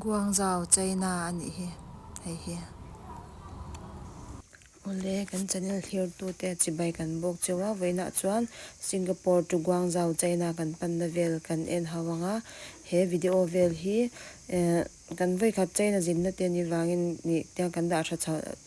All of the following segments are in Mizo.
Guangzhou China a nih hi hei hi. Awle kan channel thirtu te chibai kan bawk che wa vawiin ah chuan Singapore to Guangzhou China kan panna vel kan en hau ang a, he video vel hi kan vawi khat China zinna te ni vangin nih tiang kan dah a tha chauh.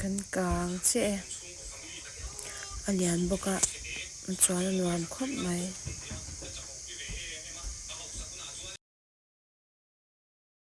Kan kang che e a lian bawk a chuan a nuam khawp mai.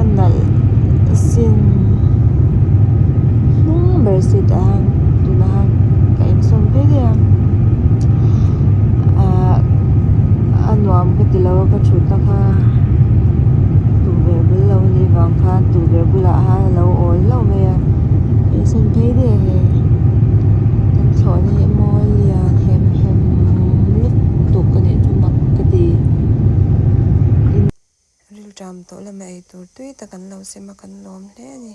a nalh sin hnung ber si tawh ang tuna ka insawm hle hle a ah a nuam ka ti lo a ka thutna kha tukverh bul lo a nih vang khan tukverh bulah khan a lo awi hlauh mai a an sen phei diaih a ni kan thlawh na hi mawi lia hlim hlim lutuk a nih chu mak ka ti. Rilṭam tawh lama ei tur tui tak an lo sim a, kan lawm hle a ni.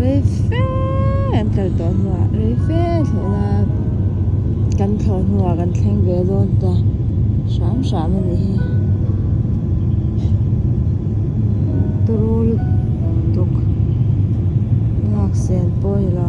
rei fe an kal tawh hnuah rei fe thlawh la kan thlawh hnuah kan thleng ve dawn ta hram hram a nih hi tawrru lutuk laksen pawh ni lo.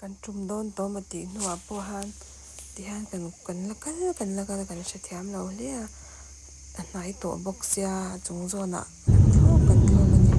Kan tum dawn tawm a tih hnuah pawh han tihian kan kan la kal kan la kal kan hre thiam lo hle a a hnai tawh bawk sia a chung zawnah kan thlawk kan thlawk a ni.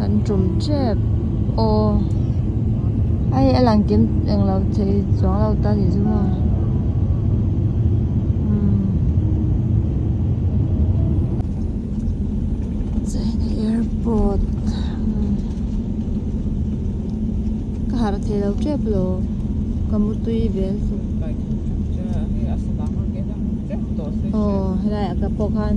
Kan tum tep aw. Ai a lang kem eng lo thei chuang lo ta ni zu maw. China airport ka harh thei lo tep lo ka mu tui vel chu. Aw helai a ka pawh khan.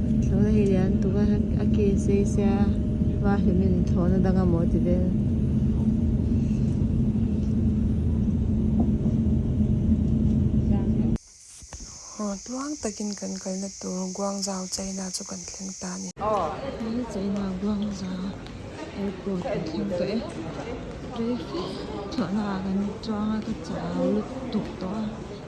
Thla hi lian tuk a, a case hi sia va hlim in thawh na dang a maw ti vel. Aw tuang takin kan kalna tur Guangzhou China chu kan thleng ta a ni. Hi China Guangzhou airport kan thleng ta e. Traffic thlawhna ah kan chuang a ka chau lutuk tawh a.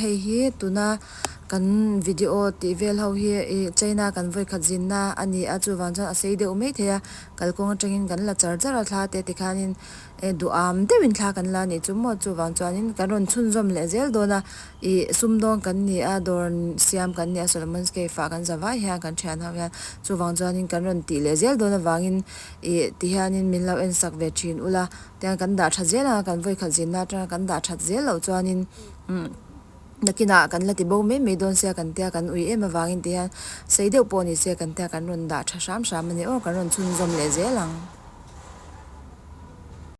hei hi tuna kan video tih vel ho hi china kan vawi khat zin na a ni a chuvang chuan a sei deuh mai thei a kalkawng atangin kan la char char a thla te tikhanin. E, duham deuhin thla kan la nih chu maw? Chuvang chuanin kan rawn chhunzawm leh zel dawn a, i, sum dawn kan ni a, dawr siam kan ni a, Solomon's Cave-ah kan za vai hian kan thian ho hian, chuvang chuanin kan rawn tih leh zel dawn avangin, i, ti hianin min lo en sak ve thin ula, tiang kan dah that zel ang a, kan vawikhat zinna atanga kan dah that zel loh chuanin, umm. Nakinah kan la ti bo mai mai dawn sia kan tia kan ui em avangin ti hian sei deuh pawh ni sia kan tia kan rawn dah tha hram hram a ni aw kan rawn chhunzawm leh zel ang.